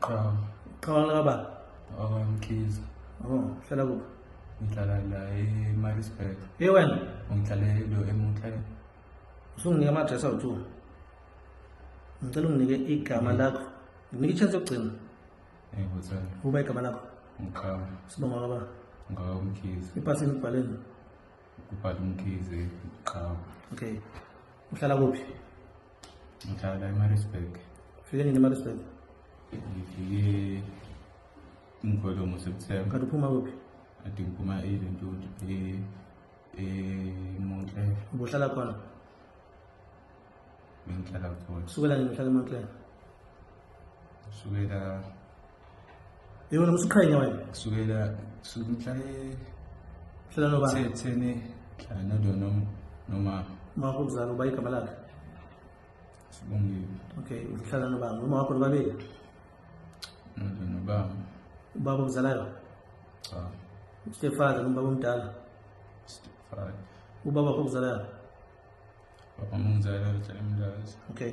Qhamu. Qhamu laba. Awamkhiza. Oh, hlala kuphi? Ngihlala la eMaritzburg. Hey wena, ngihlala lo eMuthlane. Usunginike ama address awuthu. Ngicela unginike igama mm. lakho. Nginike ichance yokugcina. Eh, buthana. Uba igama lakho. Ngiqhamu. Sibonga baba. Ngawo umkhiza. Ipasi ngibhaleni. Kubhala umkhize qhamu. Okay. Uhlala kuphi? ngihlala emarisburg ufike nini emarisburg ngifike umgolomo september kanti uphuma kuphi ade ngiphuma elentuthu emontler ubuhlala khona bengihlala khona kusukela nini uhlala emontler kusukela Yebo nomsiqhenya wena. Kusukela kusuka mhla e- Hlela noba. thethene mhla nodo nom- noma Mawakho mzala uba igama lakhe. sibongiwe Okay, uhlala nobani? Uma wakho nobabili. nodo nobaba Ubaba omzalayo, cha stepfather noma baba omdala. stepfather Ubaba wakho omzalayo. baba mungizala uhlala emlazi Okay.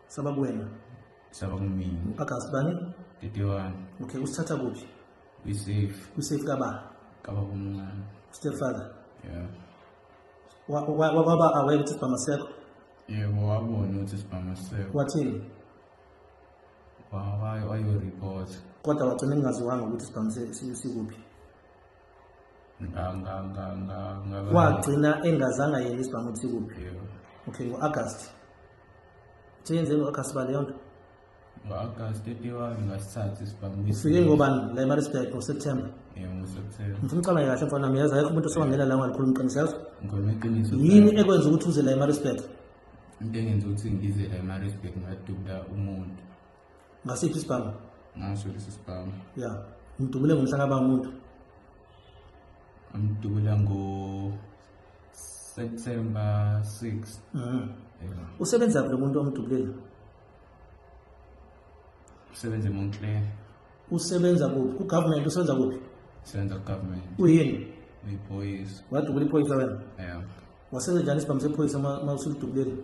saba kuwena saba kumina agasi bani 31 okay usithatha kuphi kwisafe kwisafe kaba kaba kumncane stepfather yeah waba aware ukuthi sibhama sekho yebo wabona ukuthi sibhama sekho wathini wayoreport kodwa wagcina ngingaziwanga ukuthi sibhama sikuphi kwagcina engazange ayele isibanga ukuthi kuphi okay ngo-agast seyenzeni ngo-agast ba leyo nto ngo-agast etiwani ngasithatha isibangufike ngobani la emarisburg ngoseptember ngifuna ucabanye kahle mfana mi yazi ayekho umuntu osewangela la ngalikhuluma iqiniso yazi yini ekwenza ukuthi uze la emarisburg into engenza ukuthi ngize la emarisburg ngadubula umuntu ngasiphi isibhamu ngaso lesi sibhamu ya ngidubule ngomhla kaba umuntu ngidubula ngo September 6 mhm usebenza kulo muntu omdubulela usebenza eMontclair usebenza kuphi ku government usebenza kuphi usebenza ku government uyini uyiphoyisa wadubula iphoyisa wena yeah wasenza njani isibhamu sephoyisa uma usulidubuleli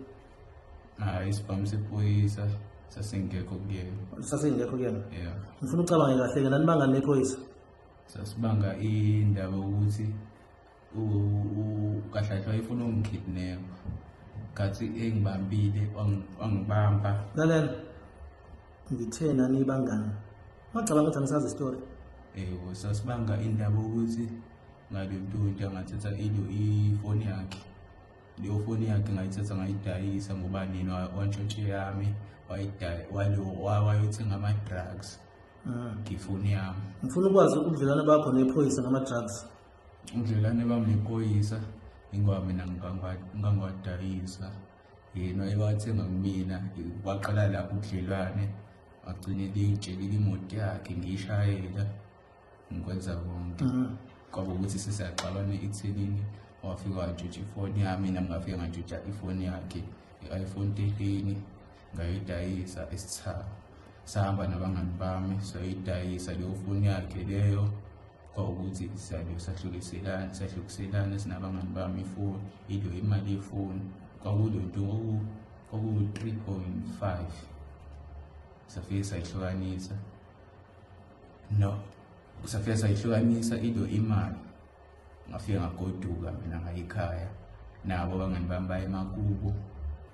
hayi isibhamu sephoyisa sasingekho kuyena sasingekho kuyena yeah ngifuna ucabange kahle-ke nanibanga nephoyisa sasibanga indaba ukuthi ukahlahlwa ifuna ungikidnepha ngathi engibambile wangibamba lalela ngithe nanibangani wacabanga ukuthi angisazi isitori ewu sasibanga indaba ukuthi ngabe mntuntu angathatha ilo ifoni yakhe leyo foni yakhe ngayithatha ngayidayisa ngoba nina wantshontshe yami wayothenga ama-drugs ah. ngifoni yami ngifuna ukwazi ubudlelwane bakho nephoyisa ngama-drugs ubudlelwane bami nephoyisa ingoba mina ngangiwadayisa yena ewathenga kumina kwaqala lapho ubudlelwane agcine liyitshelile imoto yakhe ngiyishayela ngikwenza konke mm. kwaba ukuthi sisaxabana ekuthenini wafika wajutsha ifoni yami nami ngafika ngajutsha ifoni yakhe i-iphone thirteen ngayidayisa esithaba sahamba nabangani bami sayidayisa leyo foni yakhe leyo kwawukuthi siyabe sahlukiselana sahlukiselana sinabangani bami ifoni ilo imali yefoni kwakulo nto oku-three point five safike sayihlukanisa no kusafika sayihlukanisa into imali ngafika ngagoduka mina ngayikhaya nabo abangani bami baye emakubo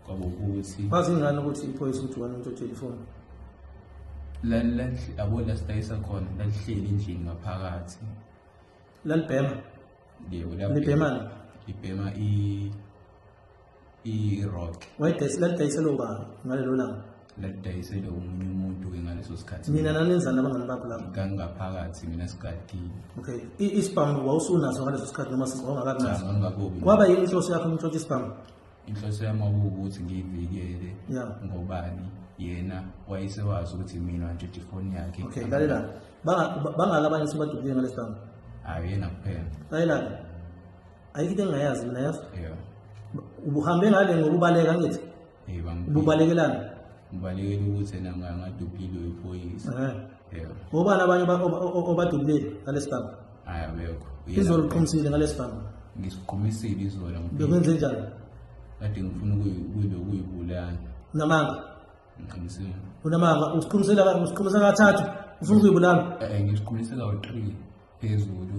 kwabo ukuthi bazi ngani ukuthi iphoyisa ukuthi wena umuntu othwele ifoni yabo la sidayisa khona lalihleli endlini ngaphakathi lalibhema yebo libhemani libhema i i-rock wayidayisela ubani ngalelo langa ladayisele omunye umuntu-ke ngaleso sikhathi nina nanenzani abangani bakho lapho ngangingaphakathi mina sigadile okay isibhamu wawusunaso ngaleso sikhathi noma wawungakakunaso kwaba yini inhloso yakho umtshontsha isibhamu inhloso yami wakuwukuthi ngiyivikele ngobani yena wayesewazi ukuthi mina ngitshontsha ifoni yakhe okay lalela bangaki abanye sebadukile ngalesi bhamu hhayi yena kuphela layelani ayikho into engingayazi mina yazi yeah ubuhambe ngale ngokubaleka ngithi hey bangiphi ububalekelana ngibalekela ukuthi ena nga- ngaduphile wephoyisa Eh. yeah ngobani abanye oba- oba- oba- obadubulile ngalesi gama hayi abekho izolo uqhumisile ngalesi gama ngisiqhumisile izola ngifike- bekwenze njani kade ngifuna ukuyi- ukuyi- ukuyibulala unamanga ngiqinisile unamanga usiqhumisela usiqhumisa kathathu ufuna ukuyibulala Eh, ngisiqhumise kawu-three phezulu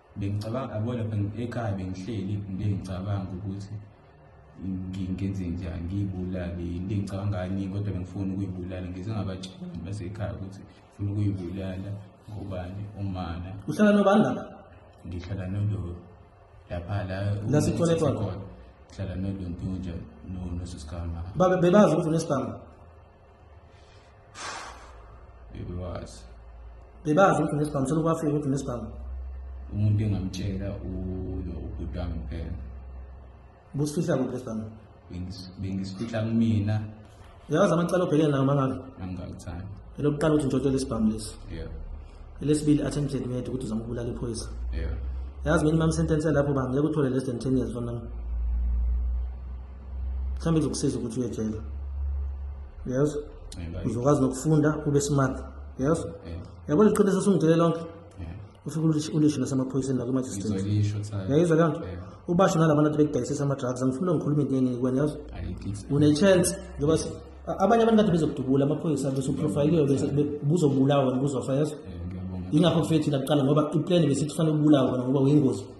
Bengicabanga yabo lapha ekhaya bengihleli into engicabanga ukuthi ngenze njani ngiyibulale into engicabanga ngani kodwa bengifuna ukuyibulala ngize ngabatshela basekhaya ukuthi ngifuna ukuyibulala ngobani umana uhlala nobani lapha ngihlala nolo lapha la La sithola khona. ngihlala nolo ntunja no nosisikhama Babe- bebazi ukuthi unesibhamu bebewazi bebazi ukuthi nesibhamu sona kwafika ukuthi nesibhamu umuntu engamtshela uyo ubhuti wami kuphela busifihla kuphi lesibhamu bengisifihla kumina uyawazi amacala obhekene nawo mangabe angikakuthandi elokuqala ukuthi ngitshotshele isibhamu lesi yeah elesibili attempted murder ukuthi uzama ukubulala iphoyisa yeah yazi minimum sentence yalapho bangeke uthole less than 10 years for now mhlawumbe kuzokusiza ukuthi uyejela yes uzokwazi nokufunda ube smart yes yabo liqiniso sungitshele lonke ufike ulisho nasemaphoyiseni nakumajistrayizwa leyo nto ubasho nalaba bantu bekudayisisa ama-drugs angifuna ngikhulume into eningi kwena yazi une-chance njengoba abanye abantu kade bezokudubula amaphoyisa besuprofayiliwe buzobulawa buzofa yazi yingakho kufike thina kuqala ngoba iplani besithi kufanele ubulawa ngoba uyingozi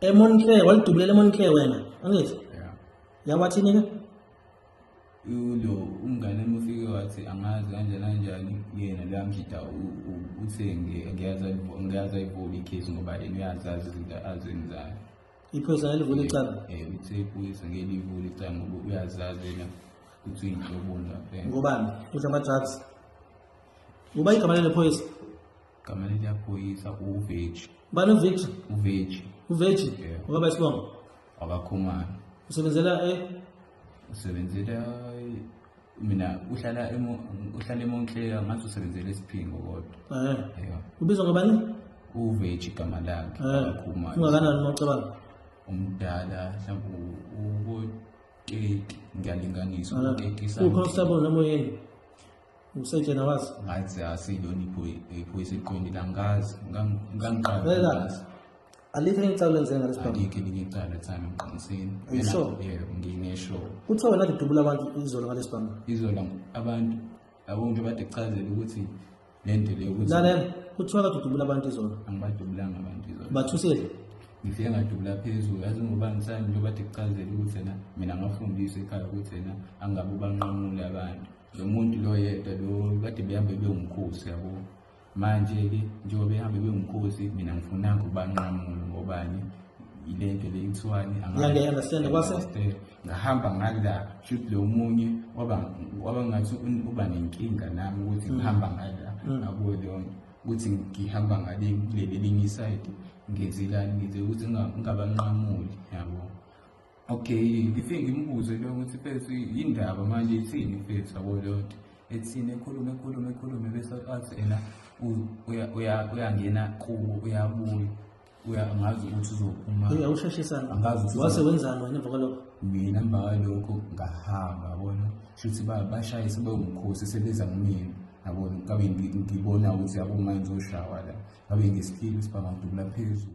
emonclair walidubulela emonclair wena angithi yeah. yawathini ke ulo umngane mufike wathi angazi kanjani kanjani yena luyamjida uthe ngiyaza ngiyaza ivula ikhesi ngoba yena uyazazi izinto azenzayo iphoyisa elivula icala eh, eh uthe iphoyisa ngelivula icala ngoba uyazazi yena ukuthi uyinhloboni lapha ngobani uthi ama-drugs ngoba igama lelo phoyisa Gama leli yaphoyisa uveji. Bani uVictor? Uveji. Uveji? Yeah. Ngoba isibongo. Akakhumana. Usebenzela eh usebenzela mina uhlala emo uhlala eMontclair ngathi usebenzela isiphingo kodwa. Eh. Yeah. Ubizwa ngabani? Uveji gama lakhe. Eh. Akakhumana. Ungakanani mawucabanga? Umdala mhlawumbe ubo 30 ngiyalinganisa. Ah. Ukhona usabona moyeni. usetshena wazi ngathi asilona iphoyisa iqondile angikazi ngangiqala alikho elinye icala lenze ngalesi bhanga alikho elinye icala time emqiniseni yisho yebo nginesho uthe wena lidubula abantu izolo ngalesi bhanga izolo abantu abonke bade kuchazela ukuthi lento leyo ukuthi lalela kuthiwa kade udubula abantu izolo angibadubulanga abantu izolo bathusile ngifike ngadubula phezulu yazi ngoba ngisani njengoba de kuchazela ukuthi yena mina ngafundiswa ekhaya ukuthi yena angabe ubanqamule abantu lo muntu lo yedwa lo kade behambe bewumkhosi yabo manje-ke njengoba behambe bewumkhosi mina ngifuna ukubanqamula ngobani yile nto le kuthiwani ngahamba ngala shuthi lo munye waba ngathi uba nenkinga nami ukuthi mm. ngihamba ngala mm. akuyo leyo nto ukuthi ngihamba ngale kuleli elinye isayidi ngenzelani ngenze ukuthi ngingabanqamuli yabo Okay, ngifike ngimbuze into yokuthi mfethu yindaba manje ithini mfethu yabo leyo nto. Ethini ekhulume ekhulume ekhulume bese athi ena uyangena kubo uyabuya. Uya ngazi ukuthi uzophuma. Uyawusheshisa. Angazi ukuthi wase wenzani wena emva kwalokho. Mina emva kwalokho ngahamba yabona. Shuthi bashaye sebewumkhosi sebeza kumina. Yabona ngabe ngibona ukuthi yabo manje uzoshawa la. Ngabe ngesiphiwo sibanga ngidubula phezulu.